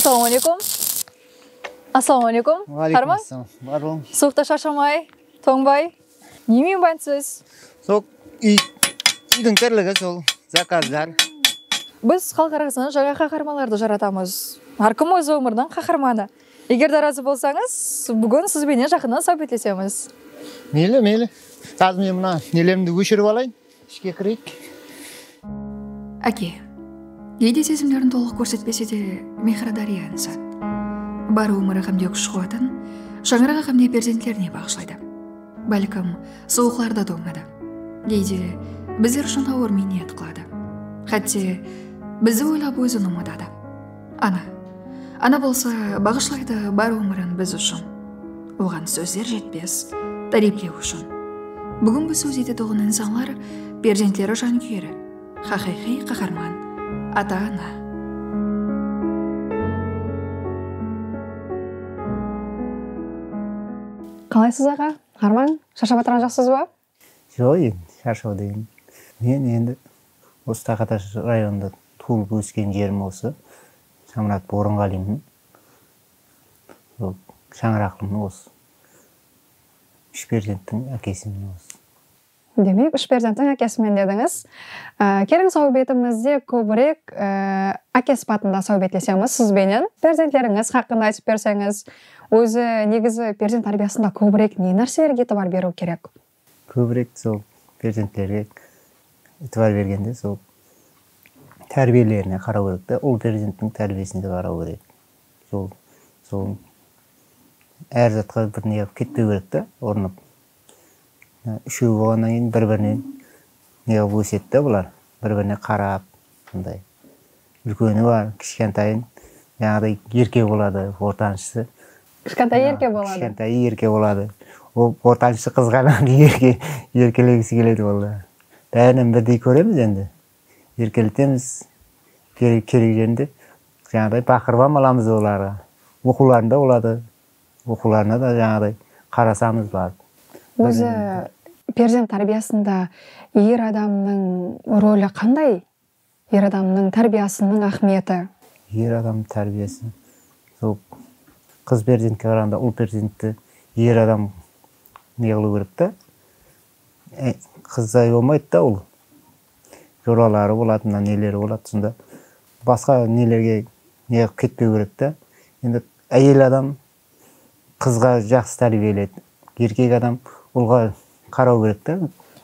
Assalawma aleykum Assalawma aleykum Ǵáraykum assalam Bar bolıń Suwıqta sharshamaay tońbay. Ne miymansiz? Sol úydiń tirligi sol zakazlar. Biz xalıq arasında jańa qaharmanlardı jaratamız. Hár kim óz ómiriniń qaharmanı. Eger de razı bolsańız, búgin siz benen jaqınnan sáwbetlesemiz. Meyli, meyli. Házir men mına nelerimdi óshirip alayın. Ishke kireyik. Áke, geyde sezimlerin tolıq kórsetpese de, mehri dárya insan. Bar ómiri ǵamde kúsh-quwatın shańaraǵı ǵamde perzentlerine baǵıshlaydı. Bálkim, suwıqlarda tońadı. Geyde bizler ushın awır miynnet qıladı. Xátte, bizdi oylap ózin umıtadı. Ana. Ana bolsa baǵıshlaydı bar ómirin biz ushın. Oǵan sózler jetpes, táriyplew ushın. Búgingi sóz etetuǵın insanlar perzentleri jankúyeri, haqıyqıy qaharman, ata-ana. Qalaysız aǵa, Harman? Sharshap atırǵan joqsız ba? Joq endi sharshau degen. Men endi osı Taqatash rayonında tuılıp ósken jerim osı Shamurat Orınǵalimin. Shańaraqlımın osı. Úsh perzenttiń ákesimin osı. Demek úsh perzenttiń ákesimen dedińiz. Keliń sáwbetimizde kóbirek áke sıpatında sáwbetlesemiz siz benen. Perzentlerińiz haqqında aytıp berseńiz. Ózi negizi perzent tárbiyasında kóbirek ne nárselerge itibar beriw kerek? Kóbirek sol perzentlerge itibar bergende sol tárbiyelerine qaraw kerek ta, ul perzenttiń tárbiyesine de qaraw kerek. Sol, sol, ár zatqa bir ne qılıp ketpew kerek ta, urınıp. Úshewi bolǵannan keyin bir birinen neǵıp ósedi da bular bir birine qarap sonday úlkeni bar kishkentayın jańaǵıday erke boladı ortanshısı kishkentayı erke boladı kishkentayı erke boladı ol ortanshısı qızǵanınan erke erkelegisi keledi ol da bárinen birdey kóremiz endi erkeletemiz kerek jerinde jańaǵıday baqırıp ham alamız olarǵa oqıwlarında boladı Oqıwlarına da jańaday qarasamız barıp. Ózi perzent tárbiyasında er adamnıń roli qanday? Er adamnıń tárbiyasınıń áhmiyeti? Er adamnıń tárbiyası sol qız perzentke qaraǵanda ul perzentti er adam ne qılıw kerek ta. Qızday bolmaydı da ul. joraları boladı mına neleri boladı sonda basqa nelerge neǵıp ketpeu kerek ta endi áyel adam qızǵa jaqsı tárbiyeleydi erkek adam ulǵa qarau kerek ta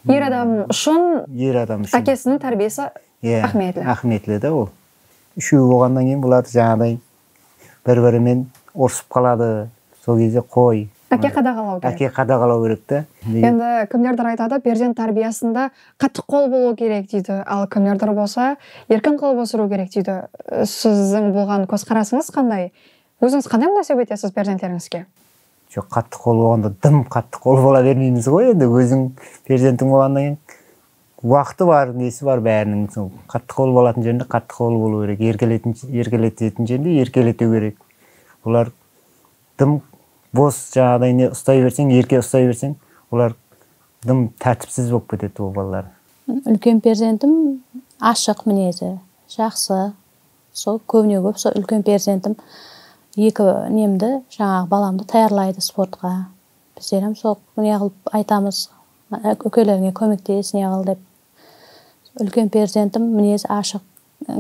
er adam ushın er adam ushın ákesiniń tárbiyesi áhmiyetli áhmiyetli da ol úsheui bolǵannan keyin bulardı jańaǵıday bir birimen urısıp qaladı sol gezde qoy Áke qadaǵalaw kerek Áke qadaǵalaw kerek da endi kimlerdir aytadı perzent tárbiyasında qattı qol bolıw kerek deydi al kimlerdir bolsa erkin qılıp ósiriw kerek deydi siziń bulǵan kózqarasıńız qanday ózińiz qanday múnásip etesiz perzentlerińizge Joq qattı qol bolǵanda dım qattı qol bola bermeymiz ǵoy endi óziń perzentiń bolǵannan keyin uaqıtı bar nesi bar báriniń sol qattı qol bolatın jerinde qattı qol bolıu kerek erkeletin erkeletetin jerinde erkeletiu kerek olar dım bos jańaǵıday ne ustai berseń erke ustai berseń olar dım tártipsiz bolıp ketedi ol balalar. Úlken perzentim ashıq minezi jaqsı Sol kóbine kóp sol úlken perzentim eki nemdi jańaǵı balamdı tayarlaydı sportqa. Bizlerem sol neǵılıp aytamız úkelerińe kómektes neǵıl dep. Úlken perzentim minezi ashıq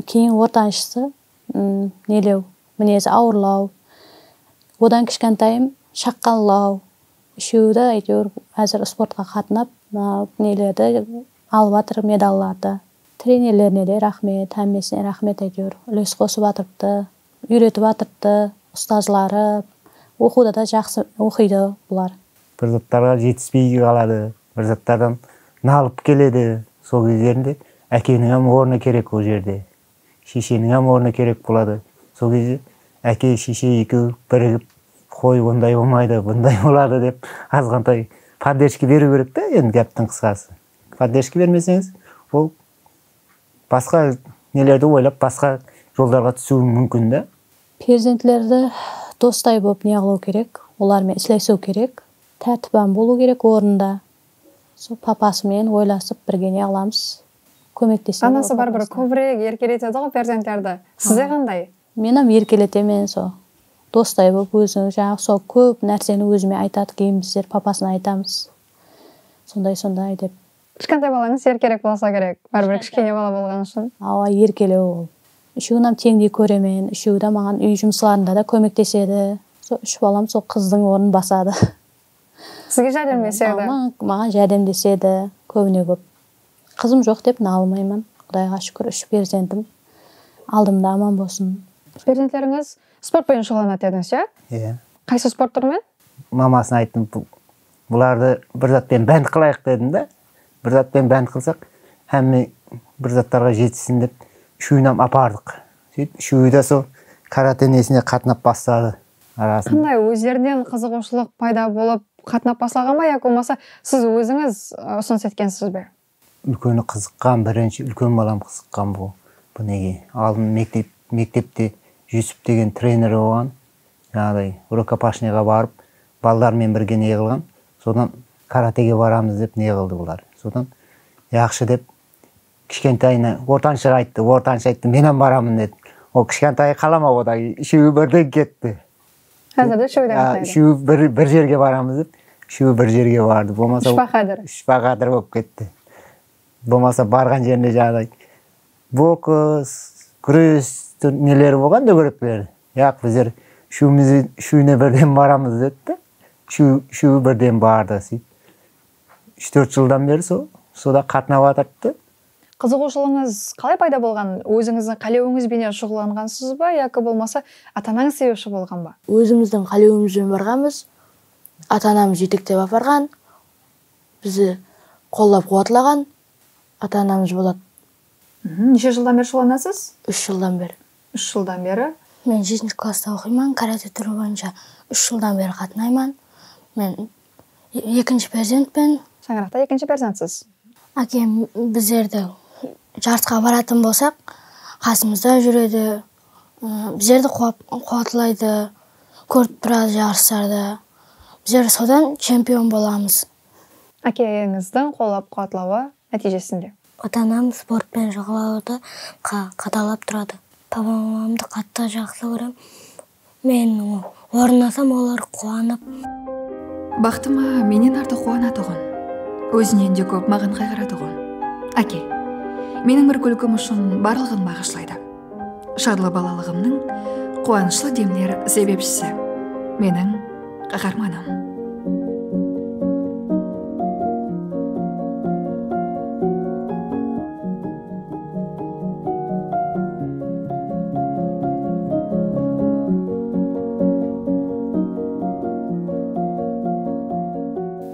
keyin ortanshısı nelew minezi awırlaw odan kishkantayım shaqqallaw úsheudi ayteuir xázir sportqa qatınap neledi alıp atır medallardı. Trenerlerine de raxmet, hámmesine raxmet áytewir úles qosıp atırıptı, úyretip atırıptı, ustazları, oqıwda da jaqsı oqıydı bular. Bir zattarǵa jetispey qaladı, bir zattardan nalıp keledi, sol gezlerinde ákeniń hám ornı kerek ol jerde, shesheniń hám ornı kerek boladı, sol gezde áke, sheshe ekewi birigip qoy onday bolmaydı, bunday boladı dep azǵantay poddержка beriw kerek dá endi gáptiń qısqası. Poddержка bermeseńiz, ol basqa nelerdi oylap, basqa joldarǵa túsiwi múmkin da. Perzentlerdi dostay bolıp neǵılaw kerek, olar menen isleisiw kerek. Tártipan bolıw kerek ornında. Sol papası menen oylasıp birge neǵılamız, kómektesemiz. Anası baribir kóbirek erkeletediǵo perzentlerdi. Sizde qanday? Menam erkeletemen so dostay bolıp óziniń janaǵı so kóp nárseni ózime aytadı keyin bizler papasına aytamız. Sonday sonday dep. Kishkanday balańız er kerek bolsa kerek báribir kishkene bala bolǵanı ushın. Awa erkelew ol. Úshewinnam teńdey kóremen, úshewi-dá maǵan úy jumıslarında da kómektesedi. Sol úsh balam sol qızdıń ornın basadı. Sizge járdemlesedi. Maǵan járdemlesedi kóbine kóp. Qızım joq dep nalmayman. Qudayǵa shúkir úsh perzentim aldımda aman bolsın. Perzentlerińiz sport penen shuǵıllanadı dedińiz, iya? Iya. Qaysı sport túrinen? Mamasına ayttım, Bulardı bir zat penen bánt qılayıq dedim de, bir zat penen bánt qılsaq, hámme bir zatlarǵa jetissin dep úshewin hám apardıq. Sóytip úshewi de sol karate nesine qatnap basladı. Arasında. Qanday, ózlerinen qızıǵıwshılıq payda bolıp qatnap baslaǵan ba yaki bolmasa siz ózińiz usınıs etkensiz be? Úlkeni qızıqqan birinshi úlken balam qızıqqan bul bunege aldın mektep mektepte Jusup degen trener bolǵan janaǵıday rukopashniyǵa barıp baldarmen birge neǵılǵan sodan karatege baramız dep neǵıldı bular sodan jaqshı dep kishkentayına ortanshaǵa ayttı ortansha ayttı menam baramın dedi ol kishkantayı qalamap odaǵı úsheui birden ketti Házir de úsheui de ǵatnaydı. Úsheui bir jerge baramız dep úsheui bir jerge bardı. Bolmasa úsh baqadır. Úsh baqadır bolıp ketti. Bolmasa barǵan jerinde jaǵday boks, gúres neleri bolǵan dógerekleri. Yaq bizler úsheumizden úsheune birden baramız dedi de úsheui birden bardı. Úsh tórt jıldan beri soda qatnap atırdı. Qızıǵıwshılıǵıńız qalay payda bolǵan? Ózińizdiń qálewińiz benen shuǵıllanǵansız ba yaki bolmasa ata-anańız sebepshi bolǵan ba? Ózimizdiń qálewimizben barǵanbız. Ata-anamız jetektep aparǵan, bizi qollap-quwatlaǵan ata-anamız boladı. Neshe jıldan beri shuǵıllanasız? Úsh jıldan beri. Úsh jıldan beri. Men jetinshi klassta oqıyman, karate túri boyınsha úsh jıldan beri qatnayman. Men Ekinshi perzentpen. Shańaraqta ekinshi perzentsiz. Ákem bizlerdi jarısqa baratın bolsaq qasımızda júredi, bizlerdi quwatlaydı, kórip turadı jarıslardı. Bizler sodan chempion bolamız. Ákeńizdiń qollap-quwatlawı nátiyjesinde. Ata-anam sportpen shugıllanıwdı qadalap turadı. Baba-mamamdı qattı jaqsı kórem. Men ornasam olar quwanıp. Baxtıma mennen artıq quwanatuǵın. Ózinen de kóp maǵan qayǵıratuǵın. Áke. Meniń bir kúlkim ushın barlıǵın baǵıshlaydı. Shadlı balalıǵımnıń quwanıshlı demler sebepshisi. Meniń. Qaharmanım.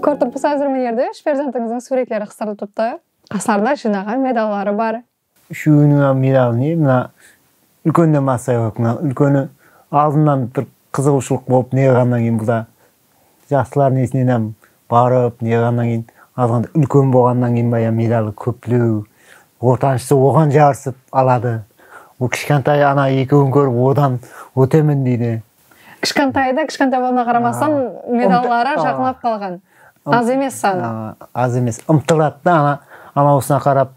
Kórtip qusazırmın Erdish, perzentińizdiń súwretleri qısırılıp turıptı, qaslarında jıynaǵan medalları bar. Úsheuinińa miyraǵı ne, mına úlkenine massa yoq, mına úlkeni aldınnan bir qızıǵıwshılıq bolıp neǵiǵannan keyin buda jaslar nesinenam barıp neǵiǵannan keyin azǵanda úlken boǵannan keyin ba ya miyraǵı kópleu, ortanshısı oǵan jarısıp aladı, ol kishkantayı ana ekeuin kórip odan otemen deydi. Kishkantayda kishkantay bolǵanına qaramastan medalları jaqınlap qalǵan. Az emes sanı. Az emes. Umtıladı da ana anausına qarap,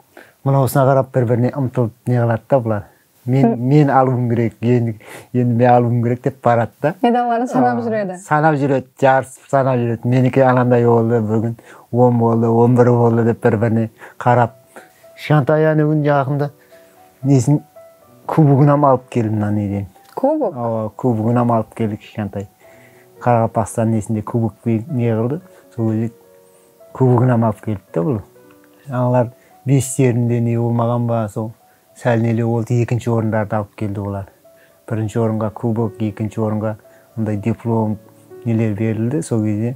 mınausına qarap bir birine umtılıp neǵıladı da bular. Men men alıuım kerek, endi endi men alıuım kerek dep baradı da. Medalların sanap júredi. Sanap júredi, jarısıp sanap júredi. Meniki ananday boldı, bir kún on boldı, on bir boldı dep bir birine qarap. Kishkantayı ánegúni jaqında nesin. Kuboginam alıp keldim mına neden. Kubok? Awa, kuboginam alıp keldi kishkantay. Qaraqalpaqstan nesinde kubok ne qıldı, sol gezek kuboginam alıp keldi da bul. Analar beslerinde ne bolmaǵan ba, sol sál nele boldı, ekinshi orındardı alıp keldi olar. Birinshi orınǵa kubok, ekinshi orınǵa bunday diplom neler berildi, sol gezde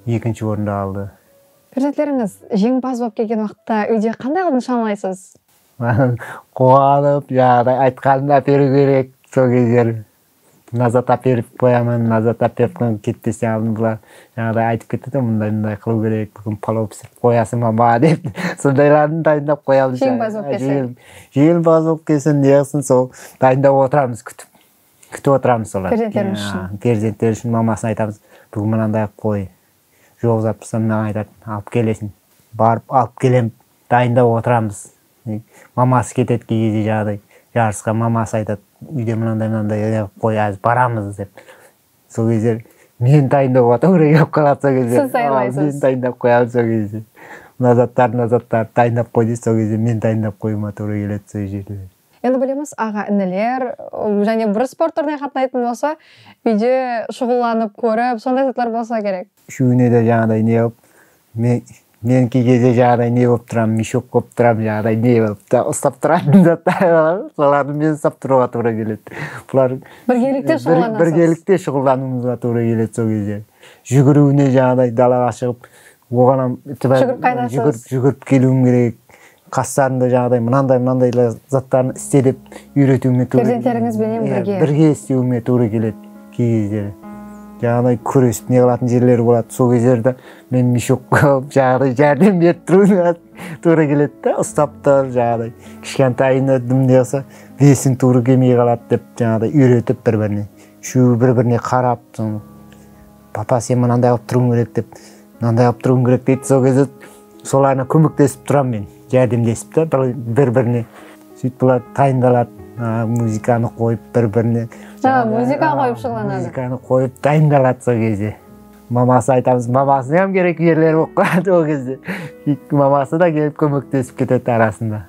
ekinshi orındı aldı. Perzentlerińiz jeńimpaz bolıp kelgen waqıtta úyde qanday qılıp nıshanalaysiz? Quwanıp jaǵıday aytqanın áperiw kerek sol gezler nazat áperip qoyaman nazat áperip qoyaman ketpesten aldın bular jaǵıday aytıp ketedi ǵo mınday mınday qılıw kerek búgin palov pisirip qoyasın ba maǵa dep sondaylardı dayındap qoyamız jeńimpaz bolıp kelse jeńimpaz bolıp kelse neǵısın sol dayındap otıramız kútip kútip otıramız solardı perzentlerimiz ushın perzentleri ushın mamasına aytamız búgin mınanday qılıp qoy Joq zatbızda mınaǵa aytadın alıp kelesin barıp alıp kelem dayındap otıramız maması ketedi key gezde jaǵıday jarısqa maması aytad uyde mınanday mınanday neǵıp qoy azir baramız dep sol gezde meni dayındauǵa tuwrı kelip qaladı sol gezde siz dayınlaysız meni dayındap qoyadı sol gezde mına zatlardı mına zatlardı dayındap qoy deydi sol gezde meni dayındap qoyıma tuwrı keledi sol jerler. Endi bilemiz aǵa iniler jáne bir sport túrine qatnaytın bolsa úyde shuǵıllanıp kórip sonday zatlar bolsa kerek. Úshewine de jańaday ne bolıp men key gezde jańaday ne bolıp turamın mishok bolıp turamın jańaday ne bolıp ta ustap turatın zatlar bar ǵo solardı men ustap turıuǵa tuwrı keledi bular birgelikte shuǵıllanasız birgelikte shuǵıllanıuımızǵa tuwrı keledi sol gezde júgiriwine jańaday dalaǵa shıǵıp Oǵan ham júgirip júgirip keliwim kerek, qaslarında jaǵıday mınanday mınanday zatlardı iste dep úyretiwime tuwrı keledi. Perzentlerińiz benen birge. Birge istewime tuwrı keledi key gezleri. Jaǵıday kúresip ne qılatuın jerleri boladı, sol gezlerde men mishok bolıp jaǵıday járdem berip turıwıma tuwrı keledi da, ustap tur jaǵıday kishkentayında dım ne qılsa vesim tuwrı kelmey qaladı dep jaǵıday úyretip bir birine úshewi bir birine qarap sonı. Papa sen mınanday qılıp turıuıń kerek dep mınanday qılıp turıuıń kerek deydi sol keze solarına kómektesip turamın men járdemlesip ta bir birine sóytip bular dayındaladı muzıkanı koyıp bir birine a muzıka koyıp shuǵıllanadı muzıkanı koyıp dayındaladı sol keze maması aytamız mamasına ham kerek jerleri bolıp qaladı ol keze maması da kelip kómektesip ketedi arasında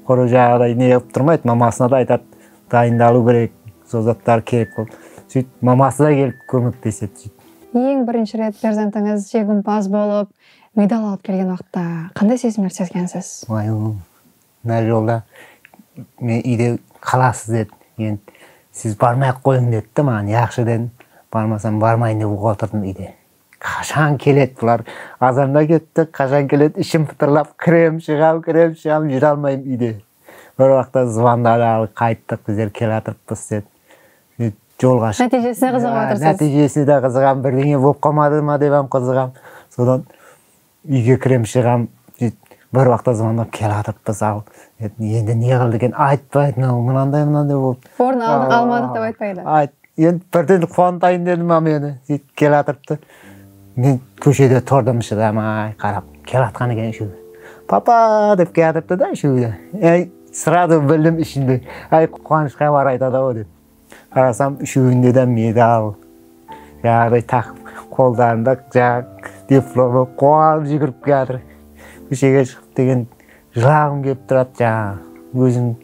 quırı jaǵıday ne qılıp turmaydı mamasına da aytadı Dayındalıu kerek sol zatlar kerek bolıp sóyt maması da kelip kómektesedi sóyt. Eń birinshi ret perzentińiz jegimpaz bolıp medal alıp kelgen uaqıtta qanday sezimlerdi sezgensiz? Uay ol mına jolda men úyde qalasız dedi keyin siz barmay aq qoyıń dedi de maǵan yaqshı dedim barmasam barmayın dep otırdım úyde qashan keledi bular azanda ketti qashan keledi ishim pıtırlap kirem shıǵam kirem shıǵam júre almayım úyde. Bir waqta zıvandadi al qayttıq bizler kelatırıppız dep sóytip jolǵa shıqtıq nátiyjesine qızıǵıp atırsız nátiyjesine de qızıǵamın birdeńe bolıp qalmadı ma dep ham qızıǵamın sodan úyge kirem shıǵam sóytip bir waqta zıvandap kelatırıppız al endi ne qıldı eken aytpaydı mınau mınanday mınanday bolıptı orın almadıq dep aytpaydı Endi birden quwantayın dedim a meni sóytip kelatırıptı. Men kóshede turdım shıdamay qarap kelatqan eken usheui. Papa dep kiyatırıptı da usheui de. Ey srazu bildim ishinde ay quwanısh xabar aytadı au dep. Qarasam usheuinde de medal jaǵıday taqıp qoldarında jaǵı diplomı quwanıp júgirip kiyatır. Kóshege shıǵıp degen Jılaǵım kelip turadı jańaǵı ózim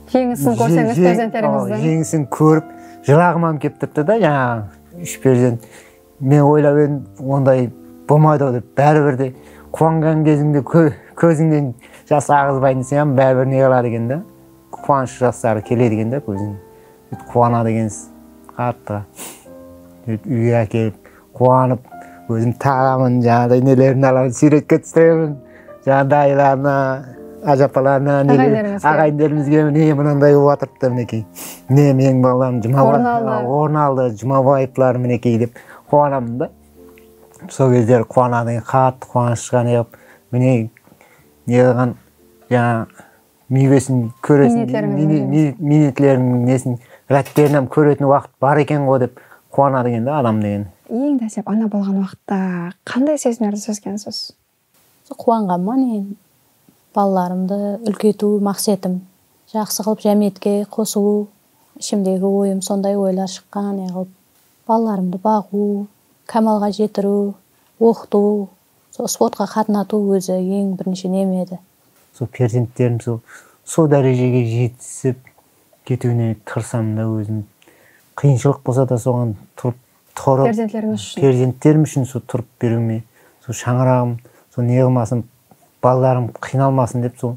Jeńisin kórseńiz perzentlerimizdiń. Jeńisin kórip jılaǵımam kelip turıptı da jańaǵı úsh perzent men oylap edim onday bolmaydı ǵo dep báribir de kuanǵan kezińde kózińnen jas aǵızbaydı deseń ham báribir ne qıladı eken da kuanısh jasları keledi eken da kózińe. Sóytip quwanadı ekensiz qattı sóytip úyge ákelip quwanıp ózim taǵamın jaǵınday nelerin alaman súyretke túsiremin jaǵında dayılarına ájapalarına áǵayinlerimizge áǵayinlerimizge mine mınanday bolıp atırıptı minekey mine meniń balam orın aldı jumabaevlar minekey dep quwanamın da sol gezleri quwanadı eken qattı quwanıshqa neǵıp mine neǵıǵan jańa miywesin kóresiń miynetlerińniń nesin ǵápterin hám kóretin waqıt bar ekenǵo dep quwanadı eken da adam degen. Eń dáslep ana bolǵan waqıtta qanday sezimlerdi sezgensiz? Quwanǵanman eń balalarımdı úlkeytiw maqsetim jaqsı qılıp jámiyetke qosıw ishimdegi oyım sonday oylar shıqqan neǵılıp balalarımdı baǵıw kámalǵa jetiriw oqıtıw Sol sportqa qatnatıw ózi eń birinshi neme edi? Sol perzentlerim sol sol dárejege jetisip ketiwine tırısamın da ózim. Qıyınshılıq bolsa da soǵan turıp turıp Perzentlerińiz ushın. Perzentlerim ushın sol turıp beriwime sol shańaraǵım sol ne qılmasın baldarım qıynalmasın dep sol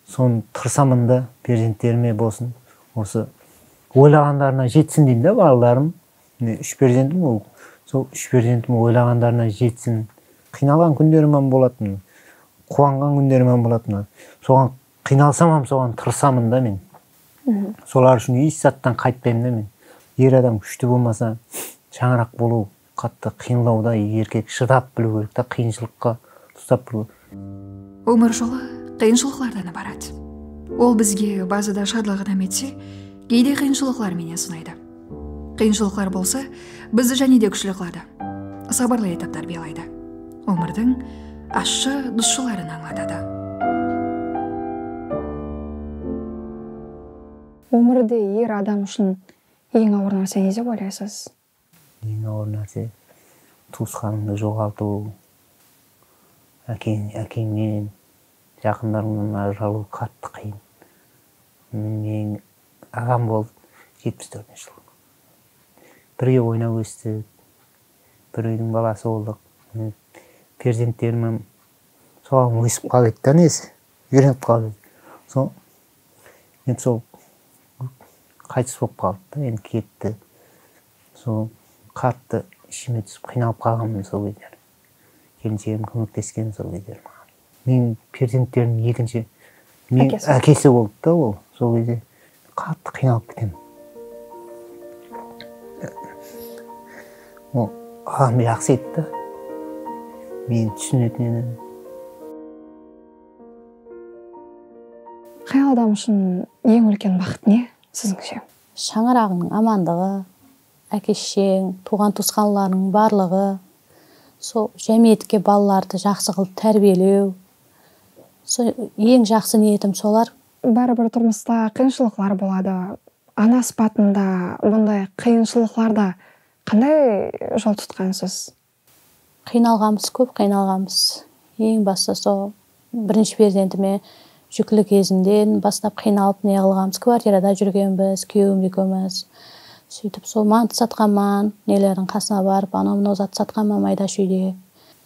sonı tırısaman da perzentlerime bolsın osı oylaǵandarına jetsin deyin da baldarım. Mine úsh perzentim ol sol úsh perzentim oylaǵandarına jetsin. Qıynalǵan kúnderim ham bolatın, quwanǵan kúnderim ham bolatın. Soǵan qıynalsam ham soǵan tırısamın da men. Solar ushın esh zattan qaytpaymın da men. Er adam kúshti bolmasa shańaraq bolıw qattı qıyınlaw da, erkek shıdap biliw kerek ta qıyınshılıqqa, ustap biliw. Ómir jolı qıyınshılıqlardan ibarat. Ol bizge bazıda shadlıq inam etse, geyde qıyınshılıqlar menen sınaydı. Qıyınshılıqlar bolsa, bizdi jáne de kúshli qıladı, sabırlı etip tárbiyalaydı, ómirdiń ashshı dusshıların ańlatadı. Ómirde er adam ushın eń awır nárse ne dep oylaysız? Eń awır nárse, tuwısqanıńdı joǵaltıw, ákeń, ákeńnen, jaqınlarıńnan ajıralıw qattı qıyın. Meniń aǵam boldı, jetpis tórtinshi jıl. Birge oynap óstik, bir úydiń balası boldıq. Mine, perzentlerimem soǵan ósip qalıwedi dá, nesi, úyrenip qalıwedi. Sol Endi sol qaytıs bolıp qaldı da endi ketti so qattı ishime túsip qıynalıp qalǵanmın sol gezler kelinshegim kómektesken sol gezler maǵan meniń perzentlerimniń ekinshi meniń ákesi boldı da ol sol gezde qattı qıynalıp ketemen ol adam jaqsı edi da meni túsinetin edi Qay adam ushın eń úlken baxıt ne, sizińshe? Shańaraǵıńnıń amanlıǵı, áke-shesheń, tuwǵan-tuwısqanlarıńnıń barlıǵı, sol jámiyetke balalardı jaqsı qılıp tárbiyelew, sol eń jaqsı niyetim solar. Bári bir turmısta qıyınshılıqlar boladı, ana sıpatında bunday qıyınshılıqlarda qanday jol tutqansız? Qıynalǵanbız kóp qıynalǵanbız eń bastı so birinshi perzentime júkli kezinden bastap qıynalıp neǵılǵanbız kvartirada júrgenbiz kúyewim ekewmiz sóytip sol mantı satqanman nelerdiń qasına barıp anau mınau zatı satqanman maydash úyde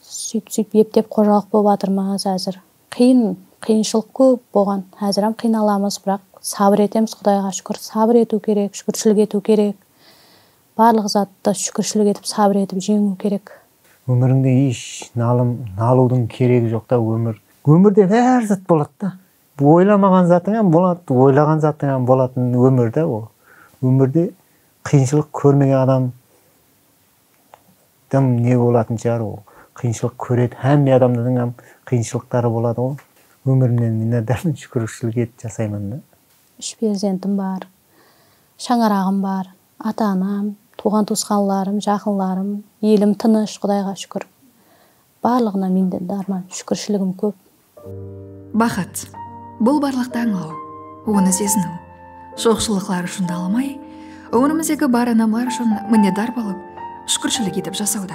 sóytip sóytip eptep xojalıq bolıp atırmız xázir qıyın qıyınshılıq kóp boǵan xáziram qıynalamız biraq sabır etemiz qudayǵa shúkir sabır etiw kerek shúkirshilik etiw kerek Barlıq zatta shúkirshilik etip sabır etip jeńiw kerek. Ómirińde esh nalım nalıwdıń keregi joqta ómir. Ómirde bár zat boladı da oylamaǵan zatıń hám boladı oylaǵan zatıń hám bolatın ómir da ol ómirde qıyınshılıq kórmegen adam dım ne bolatın shıǵar ol qıyınshılıq kóredi hámme adamdıń hám qıyınshılıqtarı boladı ǵo ómirimnen minnatdarmın shúkirshilik et jasayman da. Úsh perzentim bar. Shańaraǵım bar. Ata-anam, tuwǵan-tuwısqanlarım, jaqınlarım, elim tınısh, Qudayǵa shúkir. Barlıǵına mende dárman, shúkirshiligim kóp. Baxıt, bul barlıqtı ańlaw, onı seziniw. Joqshılıqlar ushın nalamay, ómirimizdegi bar anamlar ushın minnetdar bolıp, shúkirshilik etip jasawda.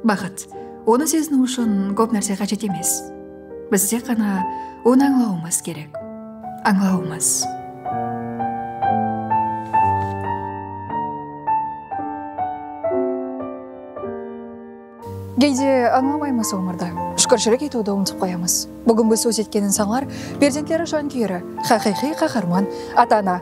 Baxıt, onı seziniw ushın kóp nárse qájet emes. Biz tek ǵana onı ańlawımız kerek. Ańlawımız. Geyde ańlamaymız ómirdi. Shúkirshilik etiwdi umtıp qoyamız. Búgingi sóz etkenin sańlar, perzentleri jankúyeri, haqıyqıy qaharman, ata-ana,